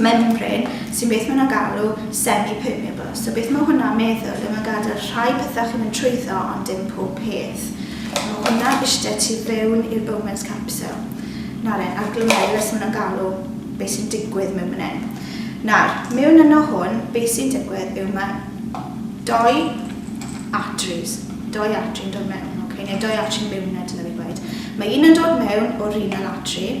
Menpre, sy'n beth mae nhw'n galw semi-permeable. So beth mae hwnna'n meddwl yw mae'n gadael rhai pethau chi'n mynd trwyddo ond dim pob peth. Mae hwnna ishte tu fewn i'r Bowman's capsule. Nawr e'n a'r glomerulus maen nhw'n galw beth sy'n digwydd mewn fan hyn. Nawr, mewn yno hwn, beth sy'n digwydd yw mae doi arteries, doi artery yn dod mewn, okay? neu doi artery mewn na dyna fi gweud. Mae un yn dod mewn o'r renal artery,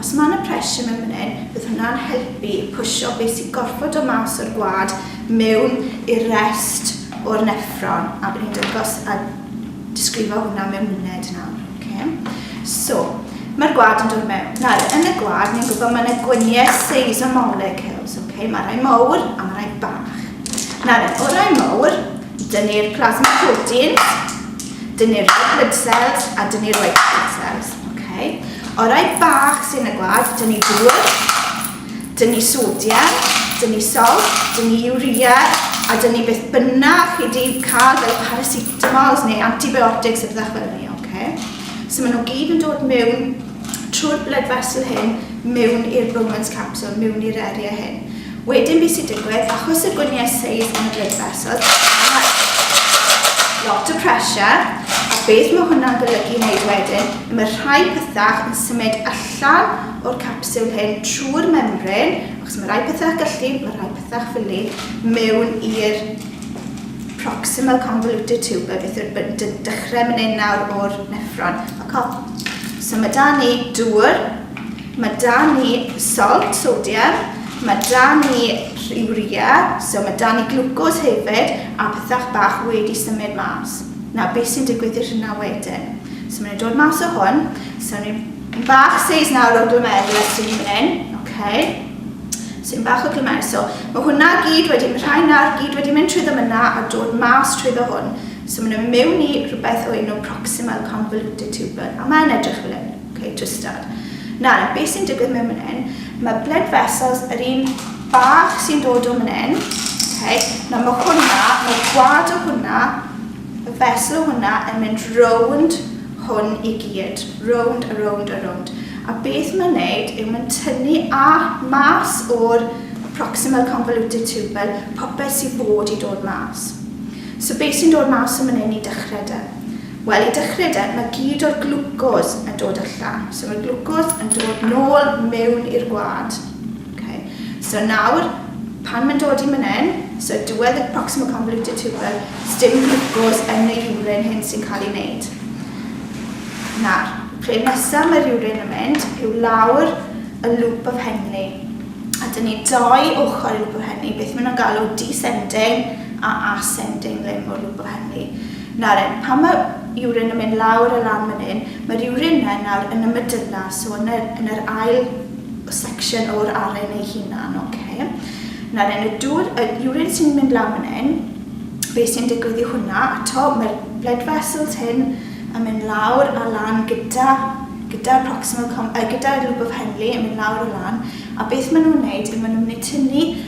Os mae 'na pressure mewn fan hyn, fydd hwnna'n helpu pwsio be sy'n gorfod dod mas o'r gwlad mewn i'r rest o'r neffron, a bydd ni'n dangos a disgrifio hwnna mewn munud nawr. Okay. So, mae'r gwlad yn dod mewn. Nawr, yn y gwlad, ni'n gwybod mae yna gwyniau seis o molecules. Okay. Mae rhai mawr a mae rhai bach. Nawr, o rai mawr, dyn ni'r plasma protein, dyn ni'r blood cells a dyn ni'r white blood cells. Okay. Orau bach sy'n y gwlad, dyn ni dŵr, dyn ni sodiau, dyn ni sol, dyn ni urea, a dyn ni beth bynnag chi di cael fel paracetamols neu antibiotics a bethau fel ni, okay? So maen nhw gyd yn dod mewn trwy'r blood vessel hyn, mewn i'r Bowman's capsule, mewn i'r eriau hyn. Wedyn beth sy'n digwydd, achos y gwyniau seis yn y blood vessels, mae lot o pressure, a beth mae hwnna'n golygu wneud wedyn, mae rhai pethau yn symud allan o'r capsiwl hyn trwy'r membrin, achos mae rhai pethau gallu, mae rhai pethau ffili, mewn i'r proximal convoluted tube, beth yw'r dechrau mynd nawr o'r neffron. So mae da ni dŵr, Mae 'da ni salt, sodium, mae 'da ni urea, so mae 'da ni glwcos hefyd, a pethach bach wedi symud mas. Nawr, beth sy'n digwydd i'r hynna wedyn? So maen nhw'n dod mas o hwn, so ni'n bach seis nawr o glomerulus sy'n hyn hyn, okay. So ni'n bach o glomerulus, so mae hwnna gyd wedi, mae rhai nawr gyd wedi mynd trwy ddymunna a dod mas trwy ddo hwn. So maen nhw'n mewn i rhywbeth o enw proximal convoluted tubule, a mae'n edrych fel hyn. Ok, just start. Nawr, beth sy'n digwydd mewn mynd hyn? Mae blood vessels yr un bach sy'n dod o mynd hyn. Ok, nawr mae hwnna, mae gwad o hwnna, y vessel o hwnna yn mynd rownd hwn i gyd. Rownd a rownd a rownd. A beth mae'n neud yw mae'n tynnu a mas o'r proximal convoluted tubule popeth sy'n bod i dod mas. So beth sy'n dod mas o mynd hyn i dechrau da? Wel, i dechrau de, mae gyd o'r glwcos yn dod allan. So mae'r glwcos yn dod nôl mewn i'r gwlad. Okay. So nawr, pan mae'n dod i mynen, so diwedd y proximal convoluted tubule, dim glwcos yn y urin hyn sy'n cael ei wneud. Nawr, lle nesaf mae'r urin yn mynd yw lawr y loop of Henley. A dyn ni doi ochr y loop of Henley, beth maen nhw'n galw descending a ascending limb o'r loop of Henley. Naren, Pan mae urine yn mynd lawr a lan fan hyn, mae'r urine yna nawr yn y medulla, so yn yr, yn yr ail section o'r aren ei hunan, oce. Okay. Naren, y dŵr, y urine sy'n mynd lawr fan hyn, beth sy'n digwydd i hwnna? Ato, mae'r blood vessels hyn yn mynd lawr a lan gyda gyda'r proximal com, uh, gyda'r loop of Henley yn mynd lawr a lan a beth maen nhw'n wneud yw maen nhw'n mynd i tynnu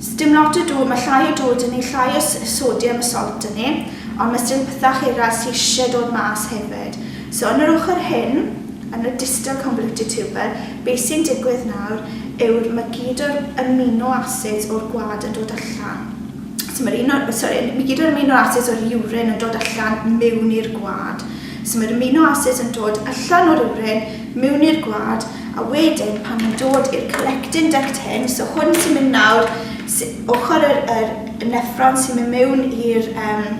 Sdim lot o dŵr, ma llai o dŵr dyn ni, llai o sodium a salt dyn ni, ond ma sdim pethach eraill sy isie dod mas hefyd. So yn yr ochr hyn, yn y distal convoluted tuber, be sy'n digwydd nawr yw'r ma gyd o'r amino acids o'r gwlad yn dod allan. So ma'r un o, sori, ma gyd o'r amino acids o'r urine yn dod allan miwn i'r gwlad. So ma'r amino acids yn dod allan o'r urine, mewn i'r gwlad a wedyn pan mae'n dod i'r collecting duct hyn, so hwn sy'n mynd nawr, ochr yr, yr neffron sy'n mynd mewn i'r um,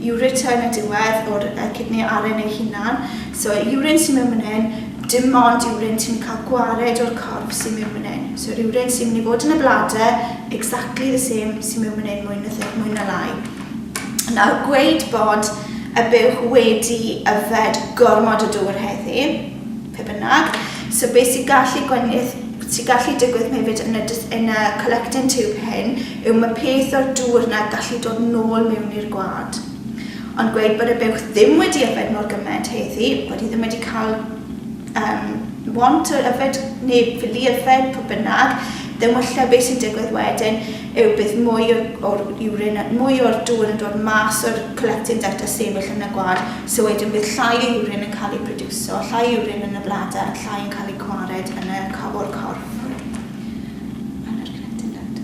ureter yn y diwedd o'r uh, cydni aren ei hunan, so urin sy'n mynd fan hyn, dim ond urin sy'n cael gwared o'r corff sy'n mynd fan hyn. So urin sy'n mynd i fod yn y bladder, exactly the same sy'n mynd fan hyn mwy na, mwy na lai. Nawr, gweud bod a buwch wedi yfed gormod o dŵr heddi, pe bynnag, so be sy'n gallu gwenith, sy'n gallu digwydd hefyd yn y, yn y collecting tube hyn yw mae peth o'r dŵr yna gallu dod nôl mewn i'r gwad. Ond gweud bod y buwch ddim wedi yfed mor gymaint heddi, bod hi ddim wedi cael um, want o yfed neu fili yfed, pe bynnag, ddim wella beth sy'n digwydd wedyn, yw bydd mwy o'r urine, mwy o'r dŵr yn dod mas o'r collecting duct a sefyll yn y gwad, so wedyn bydd llai o urine yn cael ei prodiwso, llai o urine yn y bladder, llai yn cael eu gwared yn y, o'r corff, yn yr collecting duct.